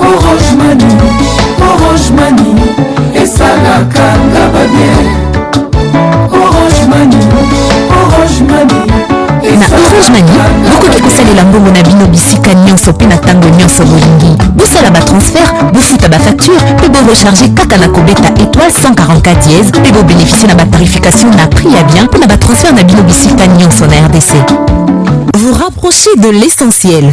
orange mani orange mani esalaka nga babien orange mani orange mani na orange mani bokoki kosalela mbongo na bino bisika nyonso mpe na ntango nyonso bolingi bosala batransfert bofuta bafacture mpe borecharge kaka na kobeta étoile 144 dièse mpe bobeneficie na batarification na prix ya bien mpo na batransfert na bino bisika nyonso na rdc vous rapprochez de l'essentiel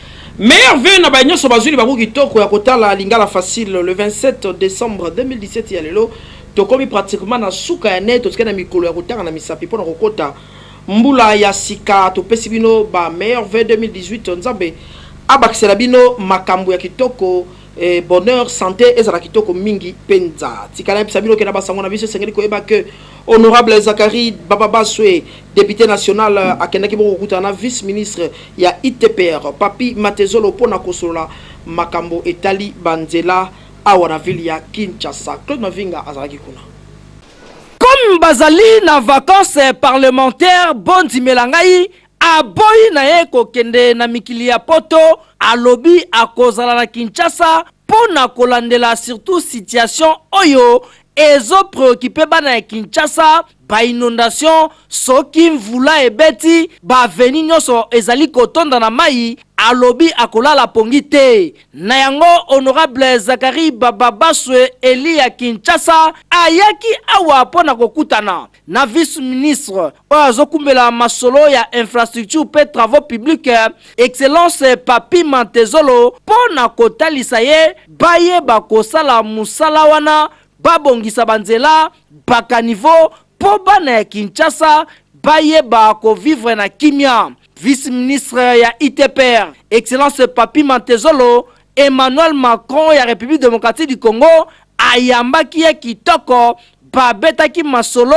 Meilleur vœux na ba nyoso bazuli bango kitoko ya kotala Lingala Facile le 27 decembre 2017 ya lelo tokomi pratiquement na suka ya ne totikali na mikolo ya kotanga na misapi pona kokota mbula ya sika topesi bino ba meilleur vœux 2018 nzambe abakisela bino makambu ya kitoko eh, bonheur sante ezala kitoko mingi penza tikala yebisa bino kena basango na biso esengeli koyeba que Honorable Zacharie Bababaswe, depute national, akendaki bongo kokutana na vice ministre ya ITPR, Papi Matezolo, mpo na kosolola makambo etali banzela awa na ville ya Kinshasa. Claude Mavinga azalaki kuna. Comme bazali na vacances parlementaires, bondimela ngai Aboyi na ye kokende na mikili ya poto, alobi akozala na Kinshasa mpo na kolandela surtout situation oyo ezo preoccuper bana ya Kinshasa, ba inondations, soki mvula ebeti ba avenues nionso ezali kotonda na mayi, alobi akolala pongi te. Na yango Honorable Zacharie Bababaswe eli ya Kinshasa ayaki awa mpo na kokutana na vice-ministre oyo azokumbela masolo ya infrastructure mpe travaux publics excellence papi mantezolo mpo na kotalisa ye baye bakosala mosala wana babongisa banzela bakanivo mpo bana ya kinshasa bayeba kovivre na kimia vice-ministre ya itpr excellence papi mantezolo Emmanuel Macron ya Republique democratique du Congo ayambaki ye kitoko, babetaki masolo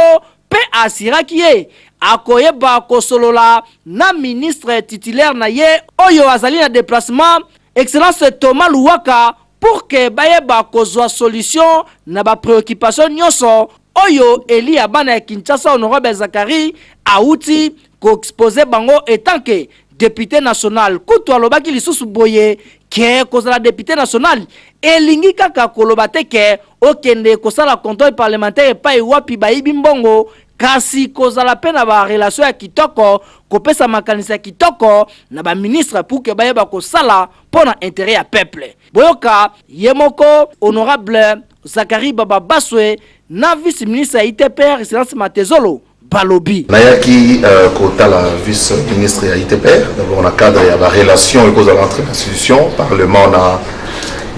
mpe a assuraki ye akoyeba kosolola na ministre titulaire na ye oyo azali na deplacement, Excellence Thomas Luwaka, pour que bayeba kozua solution na ba preoccupations nionso oyo elie ya bana ya Kinshasa, Honorable Zacharie awuti ko exposer bango etant que depute national kutu alobaki lisusu boye ke kozala depute national elingi kaka koloba te ke okende kosala controle parlementaire epai wapi bayibi mbongo kasi kozala mpe na barelation ya kitoko kopesa makanisi ya kitoko na baministre pour ke bayeba kosala mpo na intere ya peuple boyoka ye moko honorable zakari bababaswe na vice ministre ya itpr silence matezolo balobi. Nayaki kotala vice ministre ya udpr dabord na cadre ya ba relations ekozala entre institution parlement na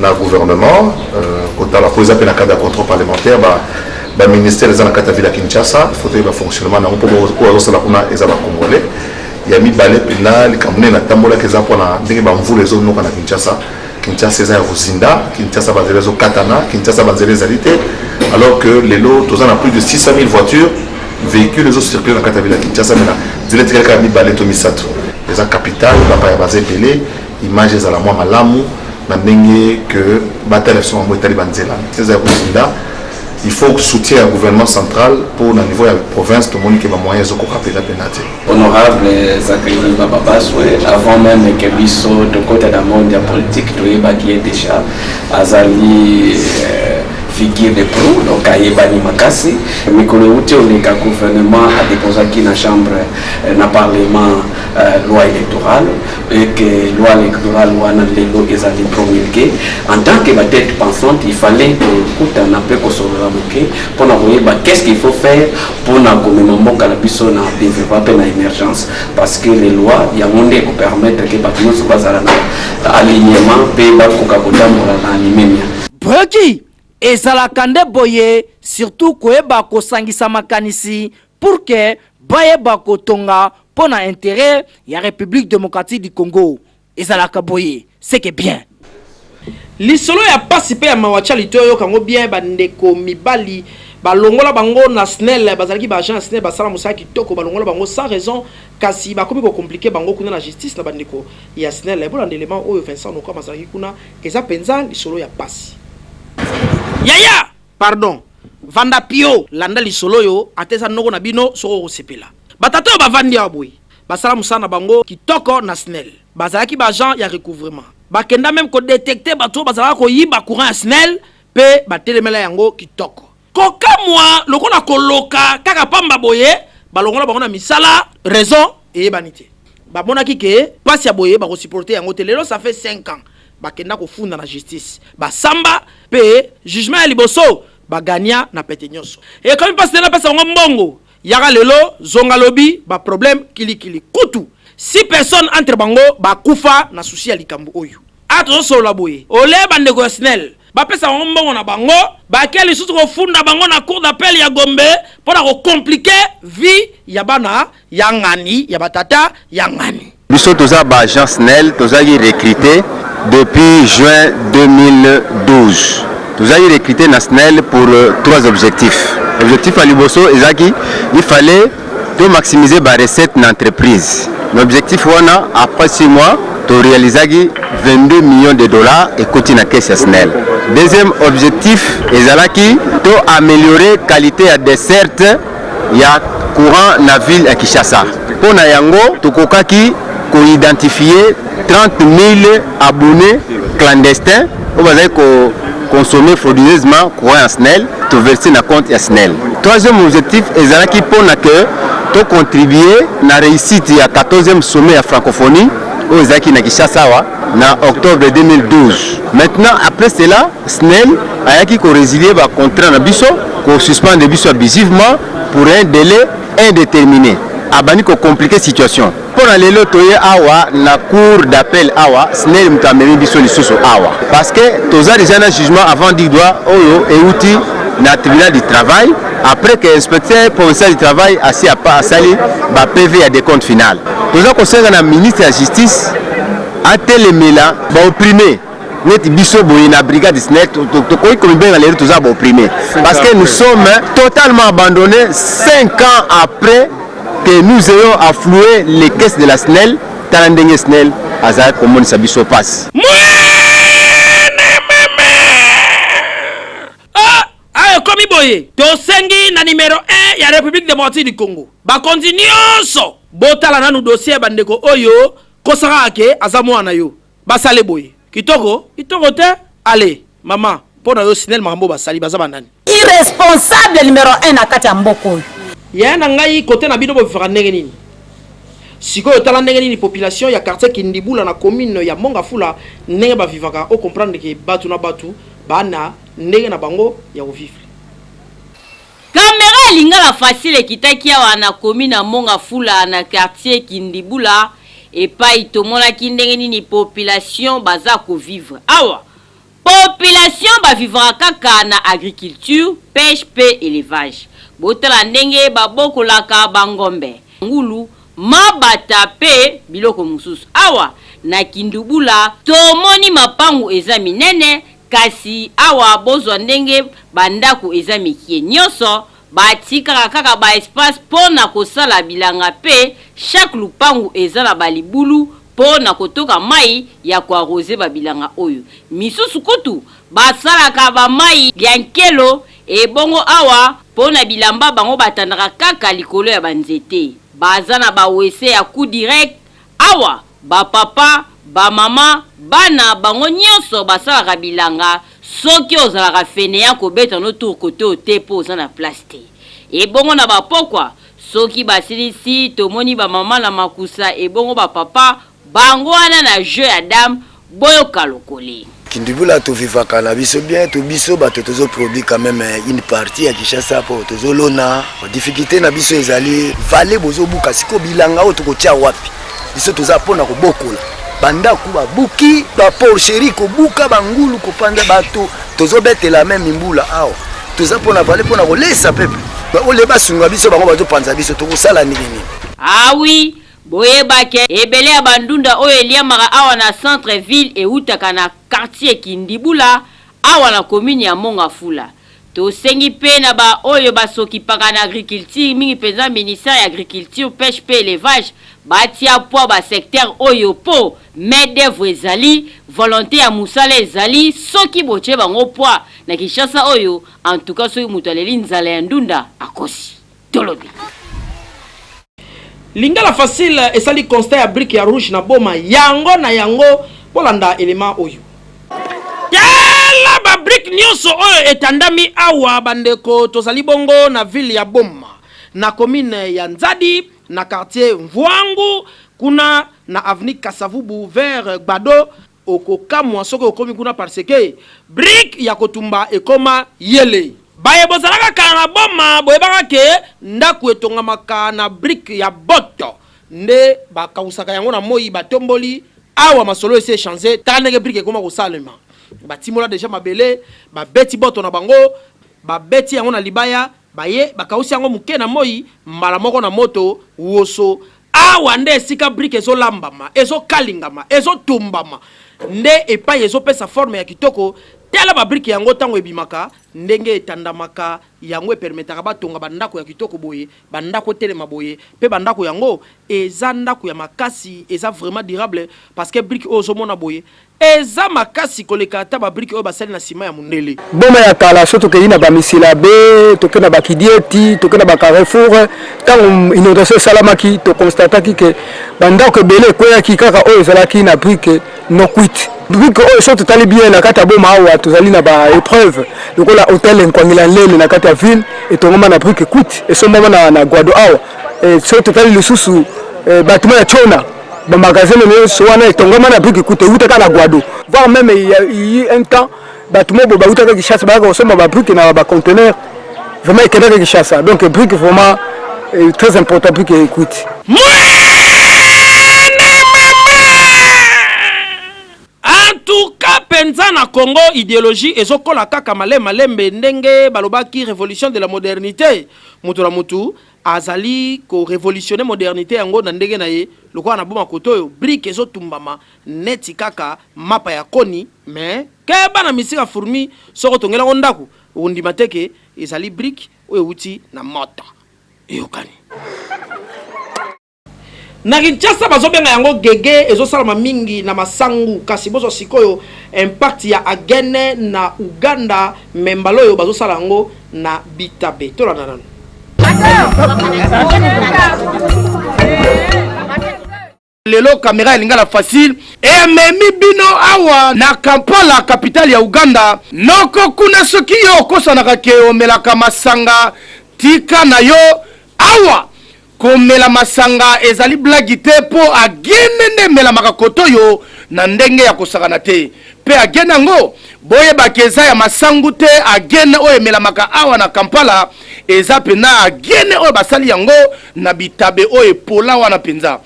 na gouvernement kotala mpo eza mpe na cadre ya contrôle parlementaire ba ba ministère eza na kati ya ville ya Kinshasa faut toyeba fonctionnement na yango mpo oyo azosala kuna eza ba congolais ya mibale mpenza likambo nini natambolaki eza mpona ndenge bamvula ezonoka na kinshasa Kinshasa eza ya kozinda, Kinshasa banzela ezokatana, Kinshasa banzela ezali te, alors que lelo toza na plus de 600 000 voitures véhicules ezocircule na kati ya vile ya Kinshasa, mena nzela etikali kaka mibale to misato. Eza capital, bapaya baza ebele, image ezala mwa malamu na ndenge que batala biso bango etali banzela eza ya kozinda il faut soutien ya gouvernement central mpo na niveau ya province tomoni ke bamoyen ezokoka mpenza mpenza te Honorable Zacharie Bababaswe, avant même que biso tokota na monde ya politique toyebaki ye déjà azali euh, figure de proue donc ayebani makasi mikolo euti oleka gouvernement adeposaki na chambre euh, na parlement euh, loi électorale et que loi électorale wana lelo ezali promulgué en tant que batete pensante il fallait kokutana mpe kosolola moke mpo na koyeba qu'est ce qu'il faut faire pona komema mboka na biso na developpement pe na emergence parce que les lois yango nde ekopermettre ke bato nyonso bazala na alignement pe bakoka kotambola na limemia breki ezalaka nde boye surtout koyeba kosangisa makanisi pour ke bayeba kotonga mpo na intere ya république démocratique du congo Ezalaka boye seke bien. Lisolo ya pasi pe ya mawa cali to yoka ngo bien ba ndeko mibali ba longola bango na snel bazalaki ba agent ya snel ba sala musala kitoko ba longola bango sans raison kasi ba komi ko complique bango kuna na justice na ba ndeko ya snel bo landa element oyo Vincent Nokama azalaki kuna eza penza lisolo ya pasi. Yaya pardon vanda pio landa lisolo oyo ata eza noko na bino soki oko sepela ba tata oyo ba vandi awa boye Basala musala na bango kitoko na snel. Bazalaki ba agents ya recouvrement. Bakenda meme ko detecter batu oyo bazalaka koyiba courant ya snel pe batelemela yango kitoko. Kokamua lokola koloka kaka pamba boye balongola bango na misala raison eyebani te. Bamonaki que pasi ya boye bako supporter yango te lelo ça fait cinq ans bakenda kofunda na justice basamba pe jugement ya liboso ba gagna na pete nionso. Ekomi pasi te napesa bango mbongo. Yaka lelo zonga lobi ba problème kili kili kutu si personne entre bango ba kufa na souci ya likambo oyo awa tozo solola boye ole ba ndeko ya snel ba pesa bango mbongo na bango ba ke lisusu ko funda bango na cour d'appel ya gombe pona ko complique vie ya bana ya ngani ya ba tata ya ngani. Biso toza ba agent snel tozalaki recrute depuis juin 2012 tozalaki recrute na snel pour trois objectifs objectif ya liboso ezalaki il fallait to maximiser ba recette na entreprise na objectif wana après six mois to realisaki 22 millions de dollars ekoti na caisse ya snel deuxième objectif ezalaki to améliorer qualité ya desserte ya courant na ville ya Kinshasa. Mpo na yango, tokokaki ko identifier 30.000 abonnes clandestins oyo bazali ko consommer frauduleusement courant ya SNEL, to verser na compte ya SNEL. Troisième objectif ezalaki mpo na que to contribuer na réussite ya 14e sommet ya francophonie oyo ezalaki na Kinshasa awa na octobre 2012. Maintenant après cela Snel ayaki ko resilier ba contrats na biso, ko suspendre biso abusivement pour un delai indetermine. Abandi ko compliquer situation. Mpo na lelo toye awa na cour d'appel awa, Snel moto amemi biso lisusu awa parce que toza dejà na jugement avant du droit oyo ewuti na tribunal du travail après que inspecteur provincial du travail asi asali ba PV ya decompte final. Toza kosenga na ministre ya justice atelemela ba opprimes. neti biso boye na brigade snec tokoki komibenga lelo toza baopprime parce que nous sommes totalement abandonné 5 ans après que nous ayons affloué les caisses de la snel tala ndenge snel azalaki komonisa biso mpasi ah, ah, ekomi boye tosengi na numero 1 ya république démocratique du congo bakonzi nyonso botala nanu dossier ya bandeko oyo kosaka ake aza mwana yo Basale boye. Kitoko? Kitoko te? Allez, maman, mpo na yo Snel makambo basali baza ba nani? Irresponsable numero 1 na kati ya mboka oyo. Yaya na ngai kote na bino bovivaka ndenge nini? Sikoyo tala ndenge nini population ya quartier Kindibula na commune ya Mongafula ndenge ba vivaka o comprendre que batu na batu ba na ndenge na bango ya ko vivre. Camera ya lingala facile ekitaki awa na commune ya Monga Fula na quartier Kindibula epayi tomonaki ndenge nini population baza ko vivre. Awa population ba vivaka kaka na agriculture, peche mpe elevage. Botala ndenge babokolaka ba ngombe, ngulu, mabata mpe biloko mosusu. Awa na Kindubula tomoni mapangu eza minene Kasi awa bozwa ndenge ba ndaku eza mikie nionso ba tikaka kaka ba espace po na kosala bilanga pe chaque lupangu eza na ba libulu po na kotoka mayi ya ko arroser ba bilanga oyo misusu kutu ba salaka ba mayi ya nkelo ebongo awa po na bilamba bango ba tandaka kaka likolo ya ba nzete baza na ba wc ya coup direct Awa ba papa, ba maman, bana bango nionso basalaka bilanga soki ozalaka feneant kobeta no tour kote oyo te po oza na place te. Ebongo na ba pokwa soki basilisi tomoni ba maman na makusa ebongo ba papa bango wana na jeux ya dame Boyoka lokole. Kindubula to vivaka na biso bien to biso bato tozo produit quand même euh, une partie ya Kinshasa po tozo lona difficulté na biso ezali vale bozo buka siko bilanga oyo tokotia wapi biso toza pona kobokola bandako babuki baporcherie kobuka bangulu kopanza bato tozobetela meme mbula awa toza pona vale pona kolesa pepe ole basunga biso bango bazopanza biso tokosala ndenge nini awi ah Boyeba ke ebele ya ba ndunda oyo eliamaka awa na centre ville ewutaka na quartier kindibula awa na commune ya mongafula. Tosengi pe na ba oyo ba sokipaka na agriculture mingi penza ministère ya agriculture peche pe elevage batia poid ba secteur oyo po main d'oeuvre ezali, volonte ya musala ezali soki botie bango poid na kinshasa oyo en tout cas soki mutu aleli nzala ya ndunda akosi. tolobi lingala facile esali constat ya brique ya rouge na boma yango na yango bolanda element oyo tala ba brique nyonso oyo etandami awa bandeko tozali bongo na ville ya boma na commune ya nzadi na quartier mvuangu kuna na avenue kasavubu vers gbado Okokamwa soki okomi kuna parce que brique ya kotumba ekoma yele. Baye bozalaka kala na Boma boyebaka que ndaku etongamaka na brique ya botte nde ba kawusaka yango na moyi ba tomboli. Awa masolo esi echange tala ndenge brique ekoma kosalema ba timola dejà mabele ba beti botte na bango ba beti yango na libaya. Baye bakausi yango moke na moi, mbala moko na moto, woso. Awa nde esika brique ezolambama, ezokalingama, ezotumbama, nde epai ezopesa forme ya kitoko. Tala ba brique yango tango ebimaka, ndenge etandamaka, yango epermetaka batonga ba ndako ya kitoko boye, ba ndako etelema boye, pe ba ndako yango eza ndako ya makasi, eza vraiment durable, parce que brique oyo ozomona boye, Eza makasi koleka ata ba brique oyo basali na ciment ya mundele. Boma ya kala soki tokeyi na ba misilabe, toke na ba kidieti, toke na ba carrefour, tango inondation esalamaki to constataki que ba ndaku ebele ekweyaki kaka oyo ezalaki na brique non cuite. Brique oyo soki totali bien na kati ya boma awa tozali na ba epreuves lokola hotel Nkwangila Nlele na kati ya ville etongama na brique cuite esombama na Guado awa soki totali lisusu batiment ya Tshona Ba magasins nyonso wana etongama na biki kuta ewutaka na Guado. Voire même il y a eu un temps bato mobo bawutaka Kinshasa bayaka kosomba ba briques na ba conteneurs. Vraiment ekendaka Kinshasa. Donc brique vraiment est très important brique ekuiti. penza na Congo ideologie ezokola kaka malema lembe ndenge balobaki révolution de la modernité mutu na mutu Azali ko revolutionner modernite yango na ndenge na ye, lokola na boma kote oyo brique ezo tumbama neti kaka mapa ya koni mais keba na misika fourmi soko tongela ngo ndaku okondima te ke ezali brique oyo ewuti na moto. Eyokani? Na Kinshasa bazo benga yango gege ezo salama mingi na masangu kasi bozwa sikoyo impact ya agene na Ouganda mais mbala oyo bazo sala yango na bitabe. Tolanda nanu. lelo kamera ya lingala facile ememi bino awa na kampala kapitale ya uganda noko kuna soki yo okosanaka ke omelaka masanga tika na yo awa Komela masanga ezali blagi te po agene nde emelamaka kotoyo na ndenge ya kosakana te. Pe agene yango boyeba ke eza ya masangu te, agene oyo emelamaka awa na Kampala eza pena agene oyo basali yango na bitabe oyo epola wana penza.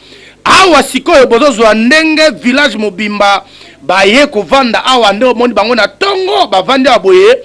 Awa sikoyo bozozua ndenge village mobimba Baye kovanda awa nde omoni bango na tongo bavandi awa boye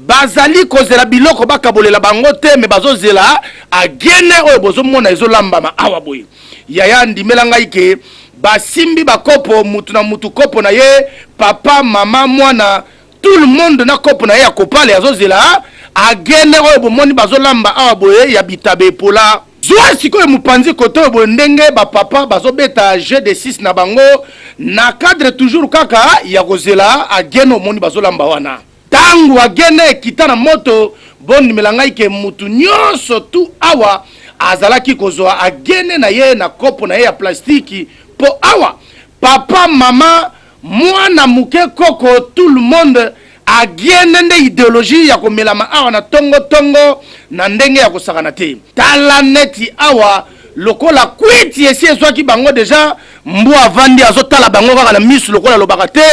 bazali kozela biloko bakabolela bango te me bazozela agene oyo bozomona ezolambama awa boye yaya ndimela ngai ke basimbi bakopo mutu na mutu kopo na ye papa mama mwana tout le monde na kopo na ye ya kopale azozela agene oyo bomoni bazolamba awa boye ya bitabe epola zwa sikoyo mopanzi kote oyo boye ndenge bapapa bazobeta jeu de 6 na bango na cadre toujours kaka ya kozela agene omoni bazolamba wana ntango agene ekita na moto bondimela ngai ke motu nyonso tu awa azalaki kozwa agene na ye na kopo na ye ya plastiki mpo awa papa mama Muana muke koko tout le monde agiene nde ideologie ya komelama awa na tongo tongo na ndenge ya kosakana te tala neti awa lokola kwiti esi ezwaki bango deja mbu avandi azotala bango kaka na misu lokola alobaka te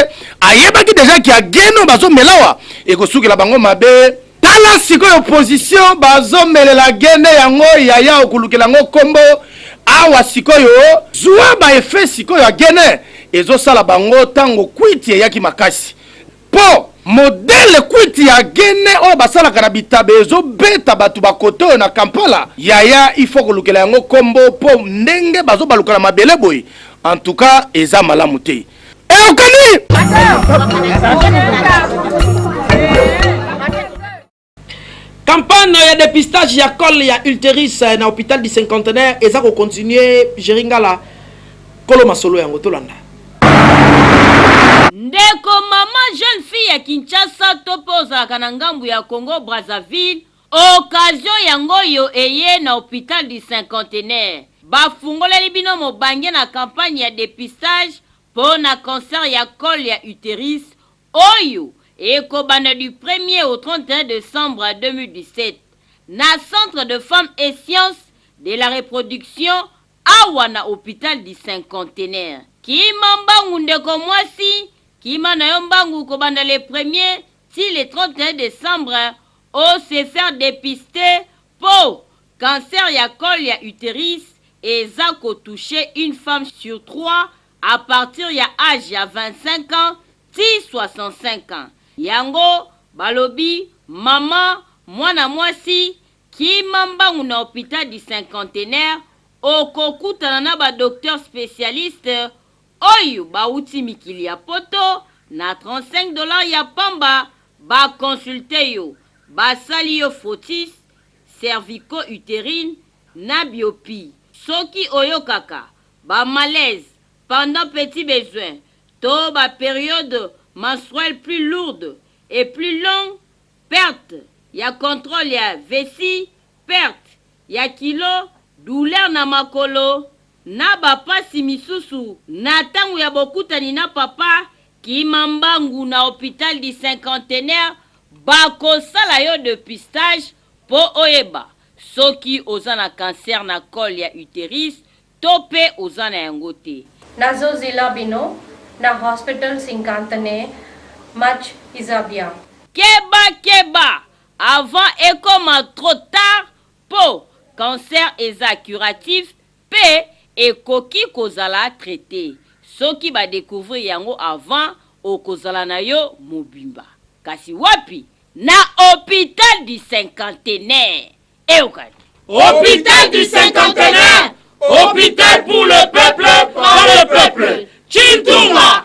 ayebaki deja ki agiene oyo bazomelawa ekosukela bango mabe Tala sikoyo position bazomelela gene yango yaya okulukela yango kombo awa sikoyo zwa ba effet sikoyo ya gene ezosala bango ntango kwiti eyaki makasi mpo modele kwiti ya gene oyo basalaka na bitabe ezobeta bato bakote oyo na kampala yaya ifo kolukela yango kombo mpo ndenge bazobaluka na mabele boye antuka eza malamu te eyokani campagne ya dépistage ya cole ya ulteris eh, na hôpital du cinquantenaire eza kocontinue geringala kolo masolo yango tolanda ndeko mama jeune fille ya kinshasa to mpe ozalaka na ngambo ya congo brazzaville Occasion yango oyo eye na hopital du cinquantenaire ba fungoleli bino mobange na campagne ya depistage po na cancer ya col ya uterus oyo eko banda du premier au 31 decembre 2017 na centre de femmes et sciences de la reproduction awa na hopital du cinquantenaire. Kima mbangu ndeko mwasi, kima na yo mbangu kobanda le premier ti le 31 decembre O se faire depister po cancer ya col ya uterus eza ko toucher une femme sur trois à partir ya age ya 25 ans ti 65 ans. Yango balobi maman mwana mwasi kima mbangu na hopital du cinquantenaire okokutana na ba docteurs specialistes oyo bawuti mikili ya poto na 35 dollars ya pamba ba consulter yo basali yo frottis cervico uterine na biopie soki oyokaka ba malaise pendant petit besoin to ba periode menstruelle plus lourde et plus longue perte ya controle ya vessie, perte ya kilo, douleur na makolo, na ba pasi misusu na tango ya bokutani na papa, kima mbangu na hopital du cinquantenaire bako sala yo depistage po oyeba soki oza na cancer na col ya uterus To pe oza na yango te. Nazo zela bino na hospital sinkantne match eza bien. Keba keba avant ekoma trop tard po cancer eza curatif pe ekoki kozala traite soki ba decouvrir yango avant okozala na yo mobimba kasi wapi na hopital du cinquantenaire Eukali. Hôpital du cinquantenaire, hôpital pour le peuple, par le peuple. Chintunga,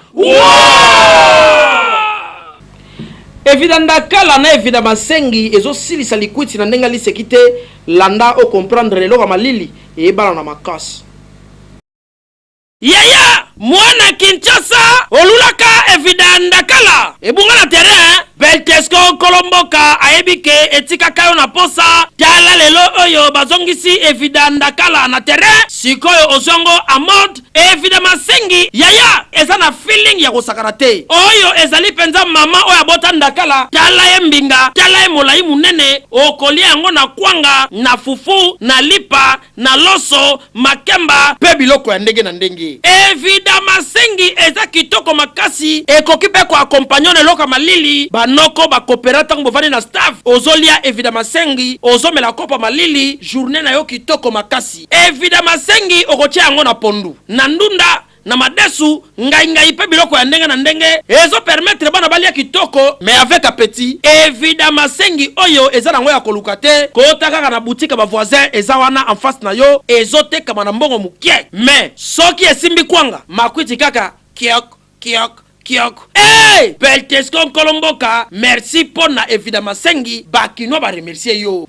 Evida ndakala na evida masengi ezosilisa likwiti na ndenge liseki te landa o comprendre eloko ya malili eyebana na makasi. Yaya mwana Kinshasa olulaka evida ndakala ebunga na terrain Beltesco nkolo mboka ayebi ke etikaka yo na posa tala lelo oyo bazongisi evida ndakala na terrain sikoyo ozwango a mode evida masengi yaya eza na feeling ya kosakana te oyo ezali mpenza mama oyo abota ndakala tala ye mbinga tala ye molai monene okolia yango na kwanga na fufu na lipa na loso, makemba pe biloko ya ndenge na ndenge. Evida masengi eza kitoko makasi, ekoki pe ko accompagner na eloko ya malili, ba noko, ba coopera tango bovandi na staff ozo lia evida masengi, ozo mela kopo ya malili, journee na yo kitoko makasi. Evida masengi okotia yango na pondu, na ndunda, na madesu ngai ngai mpe biloko ya ndenge na ndenge ezo permettre bana balia kitoko mais avec appetit evidemment sengi oyo eza nango ya koluka te kota kaka na boutique ba voisin eza wana en face na yo ezo tekama na mbongo mukie mais soki esimbi kwanga makwiti kaka kiok kiok Kiok hey! Peltesco nkolo mboka merci mpo na evida masengi bakinois ba remercier yo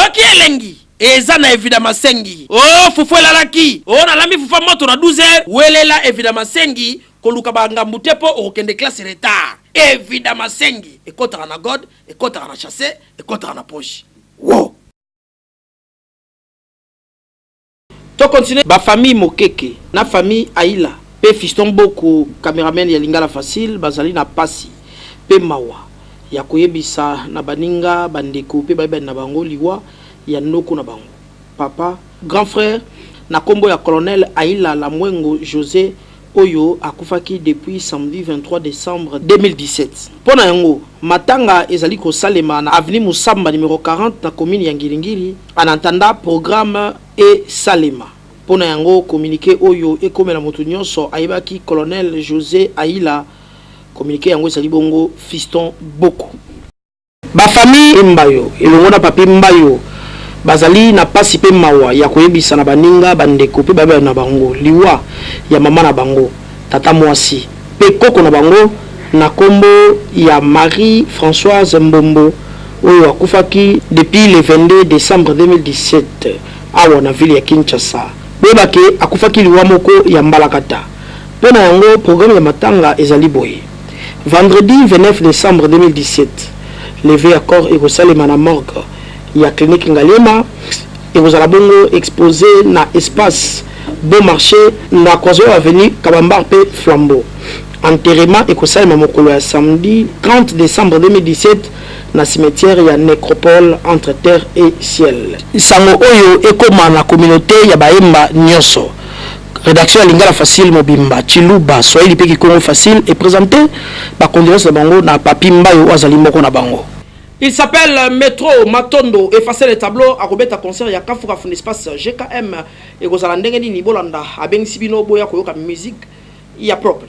oki elengi eza na evida masengi o oh, fufu elalaki o oh, nalambi fufa moto na 12 welela evida masengi koluka bangambu te mpo okokende classe retard evida masengi ekotaka na god ekotaka na chasse ekotaka na poche wo wow. To continuer ba famille Mokeke na famille Ayila pe Fiston Boku cameramen ya Lingala Facile bazali na pasi pe mawa ya koyebisa na baninga, bandeko pe bayebani na bango liwa ya noko na bango, papa, grand frère, na kombo ya Colonel Ayila Lamwengo Jose. oyo akufaki depuis samedi 23 decembre 2017. Mpo na yango, matanga ezali kosalema na avenue Musamba numero 40 na commune ya Ngiri-Ngiri, en attendant programme esalema. Mpo na yango, communique oyo ekomela moto nyonso ayebaki colonel Jose Ayila. Communique yango ezali bongo Fiston Boko. Ba familles Mbayo elongo na Papy Mbayo bazali na pasi mpe mawa ya koyebisa na baninga, bandeko mpe babe na bango liwa ya mama na bango, tata muasi mpe koko na bango na kombo ya Marie Françoise Mbombo oyo akufaki depuis le 22 decembre 2017 awa na ville ya Kinshasa. Boyeba ke akufaki liwa moko ya mbalakata. Mpo na yango programme ya matanga ezali boye. Vendredi 29 decembre 2017, levee ya corps ekosalema na morgue ya clinique Ngaliema, ekozala bongo expose na espace Bon marche na Kwazolo avenue, Kabambar mpe Flambeau. Enterrement ekosalema mokolo ya samedi 30 decembre 2017 na cimetière ya Necropole entre terre et ciel. Sango oyo ekoma na communaute ya Bahemba nionso. Redaction ya Lingala Facile mobimba, Tshiluba, Swahili mpe Kikongo Facile e presenter ba condoleances na bango na Papy Mbayo oyo azali moko na bango. Il s'appelle Metro Matondo effacer le tableau akobeta concert ya Kafu Kafu n'espace GKM ekozala ndenge nini bolanda abengisi bino boya koyoka musique ya propre.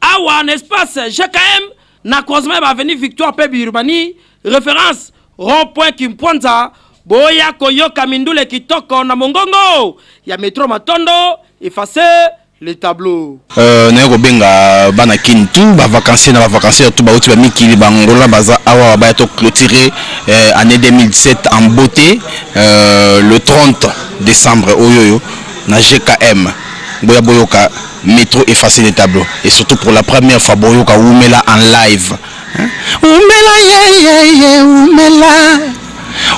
awa na espace jkm na croisement ya baavenue victoire mpe biurbani référence rond point kimpwanza boya koyoka mindule kitoko na mongongo ya metro matondo efface le tableau Euh, naye kobenga bana kin tout bavacancier na bavacancier tout bauti bamikili bangola baza awa baya to clôturer euh, année 2017 en beauté euh, le 30 décembre oyo oyo na gkm boya boyoka Metro effacer les tableaux et surtout pour la première fois boyoka wumela en live wumela ye ye ye wumela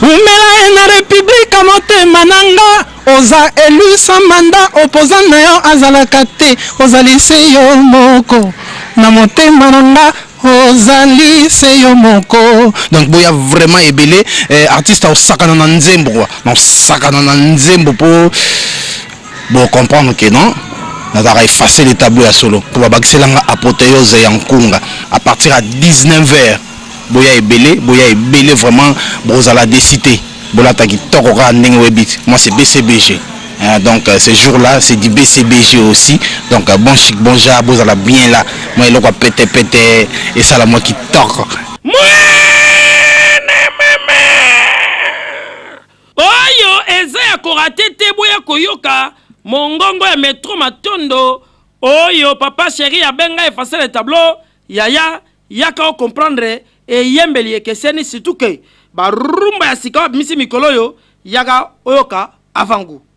wumela ye na république ya motema na nga oza élu sans mandat opposant na yo azalaka te ozali se yo moko na motema na nga ozali se yo moko donc boya vraiment ebele eh, artiste aosakana na nzembo quoi naosakana na nzembo po Bo comprendre que non nazalaka effacer le tableau ya solo mpo babakisela nga apothéose ya nkunga à partir ya 19 heures boya ebele boya ebele vraiment bokozala desi te bolata kitoko kaka ndenge oyebi moi c'est bcbg Euh, donc euh, ce jour là c'est du bcbg aussi donc euh, bon chic bon ja bozala bien là moi eloko ya pete pete esala mwa kitoko Oyo eza ya ko rate te boya koyoka mongongo ya metro matondo oyo papa cheri abenga effacer le tableau yaya yaka o comprendre eyembeli ekeseni surtout que ba rumba ya sika babimisi mikolo oyo yaka oyoka avant gout.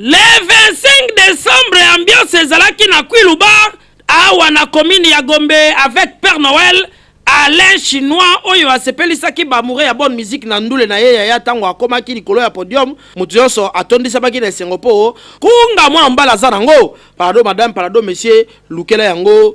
Le 25 décembre ambiance ezalaki na Kwilu Bar awa na commune ya Gombe avec Père Noël Alain Chinois oyo asepelisaki bamoure ya bonne musique na ndule na ye yaya ntango akomaki likolo ya podium moto nyonso atondisamaki na esengo mpo kunga mwana mobali aza nango palado madame palado monsieur lukela yango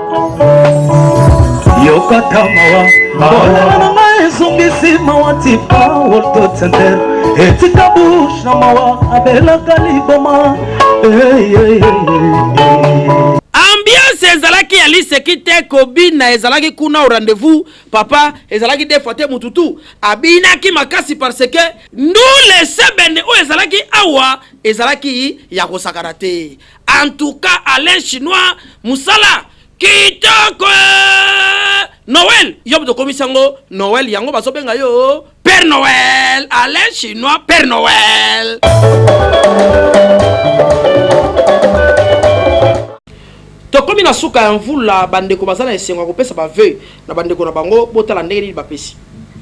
yokaka mawa bolala na ngai ezongisi mawa tipa wolto center etika bushe na mawa abelaka liboma ambiance ezalaki ya liseki te kobina ezalaki kuna o rendez-vous papa ezalaki de fois te motu tu abinaki makasi parce que ndule sebene oyo ezalaki awa ezalaki ya kosakana te En tout cas, Alain Chinois, Moussala, kitoko noel yo moto okomisi yango noel yango bazobenga yo père noel alain chinois père noel tokomi na suka ya mvula bandeko baza na esengo ya kopesa baveu na ba ndeko na bango botala ndenge nini bapesi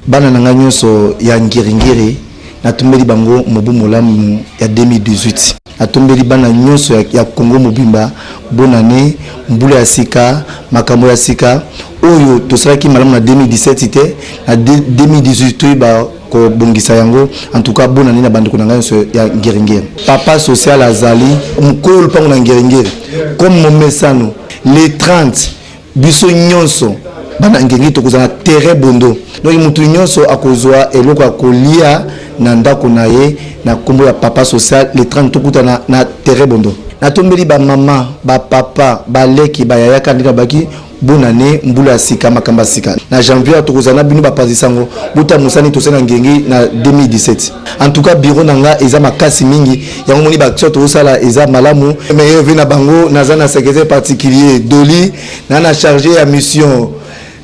bana na ngai nyonso ya ngiringiri natombeli bango mobu molamu ya 2018 natombeli bana nyonso ya, ya kongo mobimba bonane mbula ya sika makambo ya sika oyo tosalaki malamu na 2017 te na 2018 toyeba kobongisa yango en tout cas bonane na bandeko na ngai nyonso ya ngiringiri papa social azali mokolo lupango na ngiringiri comme momesano le 30 biso nyonso bana ngenge tokozala terrain bondo donc moto nyonso akozwa eloko ya kolia na ndako na ye na nkombo ya papa social le 30 tokutana na terrain bondo natombeli bamama bapapa baleki bayaya kaka ndenge babaki bona ne mbula ya sika makambo ya sika na janvier tokozala na bino bapanzi sango bota mosani tosala ngenge na 2017 en tout cas bureau na nga eza makasi mingi yango moni baaction tozosala eza malamu meilleur vie na bango naza na secrétaire particulier doli na na charge ya mission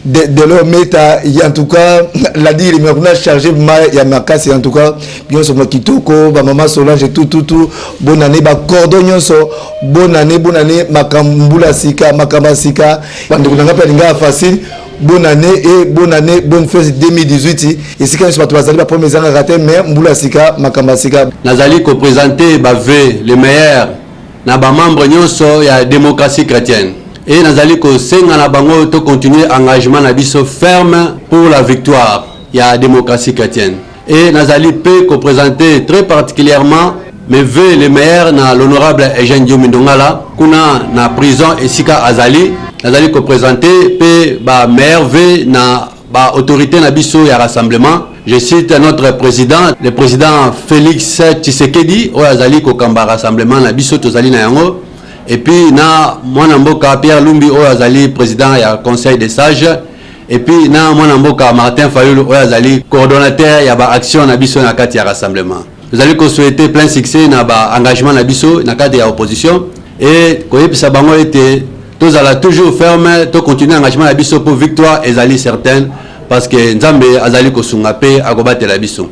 de, de leur meta en tout cas la dire mais kuna chargé ma ya makasi en tout cas nyonso ma kitoko ba maman Solange tout tout tout bonne année ba cordon nyonso bonne année bonne année makambula sika makamba sika bande kuna ngapi alinga facile bonne année et bonne année bonne fête 2018 esika nyonso bato bazali baproblème ezangaka te mais mbula sika makambo ya sika nazali kopresente bave le meilleur na bamembre nyonso ya démocratie chrétienne e nazali kosenga na bango tocontinue engagement na biso ferme pour la victoire ya démocratie chrétienne Et nazali pe ko presenter très particulièrement mes vœux les meilleurs na l'honorable Eugène Diomi Ndongala kuna na prison esika azali nazali ko presenter pe ba meilleurs vœux na ba autorités na biso ya rassemblement je cite notre président le président Félix Tshisekedi oyo azali kokamba rassemblement na biso tozali na yango et puis na mwana mboka Pierre Lumbi oyo azali président ya conseil des sages et puis na mwana mboka Martin Fayulu oyo azali coordonnateur ya ba action na biso na kati ya rassemblement tozali ko souhaiter plein succès na ba engagement na biso na cadre ya opposition et koyebisa bango ete tozala toujours ferme to continuer engagement na biso pour victoire ezali certaine parce que Nzambe azali kosunga pe akobatela biso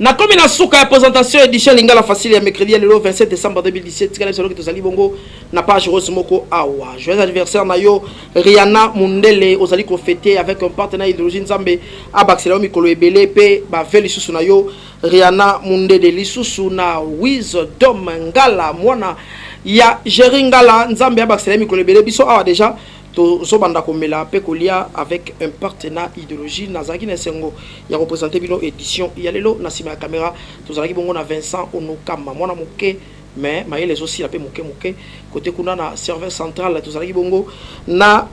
Nakomi na suka ya presentation edition Lingala Facile ya mercredi ya lelo 27 décembre 2017. Tikala biso loki tozali bongo na page rose moko awa. Joyeux anniversaire na yo Rihanna Mundele ozali ko fêter avec un partenaire idéologie Nzambe abakisela yo mikolo ebele pe ba ve lisusu na yo Rihanna Mundele lisusu na Wisdom Ngala mwana ya Jerry Ngala Nzambe abakisela mikolo ebele biso awa déjà Tozobanda komela pe kolia avec impact na ideologie. Nazalaki na esengo ya ko presenter bino edition ya lelo. Na sima ya camera, tozalaki bongo na Vincent Onokama, mwana moke mais mayele ezosila pe moke moke. Kote kuna na serveur central, tozalaki bongo na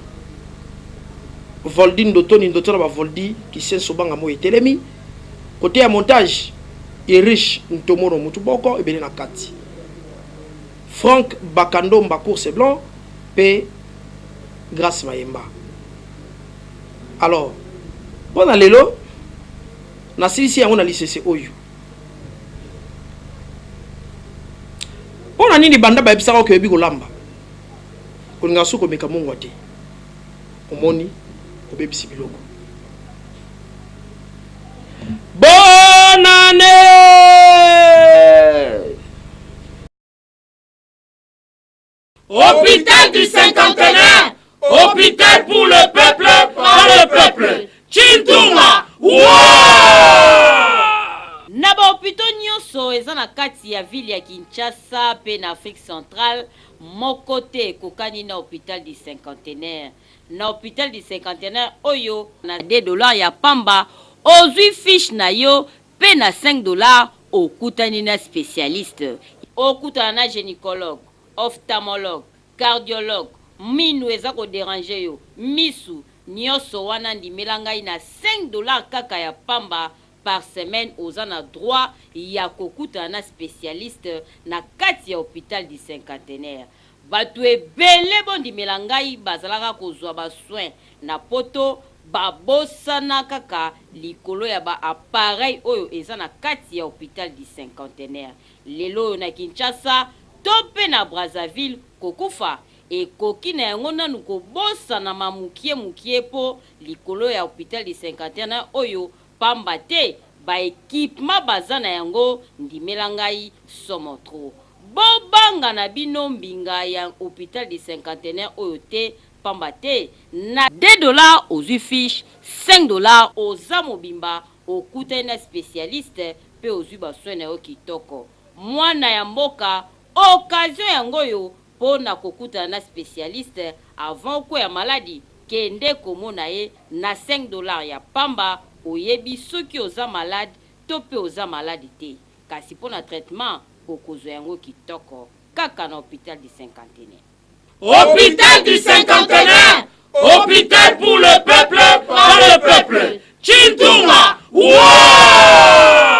Voldi Ndotoni, Ndotona ba Voldi, Kisenso Banga Moyi Telemi. Kote ya montage, Irish Ntomono Mutuboko, ebele na kati. Franck Bakandomba Course Blanc pe Grace Mayemba. Alors, pona lelo nasilisi yango na lisese oyo. Pona nini banda bayebisaka oke oyebi kolamba? Olinga suko meka mungwa te. Omoni obebisi biloko. Bonne annee! Hopital du cinquantenaire, hopital pour le peuple, par le peuple. Chintunga, na bahopito nyonso eza na kati ya ville ya Kinshasa mpe na Afrique centrale, moko te ekokani na hopital du cinquantenaire. na hopital du cinquantenaire oyo na deux dollars ya pamba ozui fiche na yo pe na cinq dollars okutani na specialiste, okutana na genicologue, ophtamologue, cardiologue, minu eza ko deranger yo, misu, nioso wana ndimela ngai na cinq dollars kaka ya pamba par semaine oza na droit ya kokutana na specialiste na kati ya hopital du cinquantenaire. Batu ebele bo ndimela ngai bazalaka kozua ba soins na poto ba bosana kaka likolo ya ba appareils oyo eza na kati ya hopital du cinquantenaire. Lelo oyo na Kinshasa to pe na Brazzaville kokufa ekoki na yango nanu kobosanama mukie mukie po likolo ya hopital du cinquantenaire oyo Pamba te ba equipement baza na yango ndimela ngai somo trop. Bo banga na bino mbinga ya hopital du cinquantenaire oyo te pamba te na. Deux dollars ozui fiche cinq dollars. Oza mobimba okutani na specialiste pe ozui ba soins na yo kitoko. Muana ya mboka occasion yango oyo Pona kokutana na specialiste avant okweya maladi, kende komona ye na cinq dollars ya pamba, oyebi soki oza malade to pe oza malade te. Kasi pona traitement, okozwa yango kitoko kaka na hopital du cinquantenaire. Hopital du cinquantenaire, hopital pour le peuple, par le peuple. Tshintunga! Wooaa!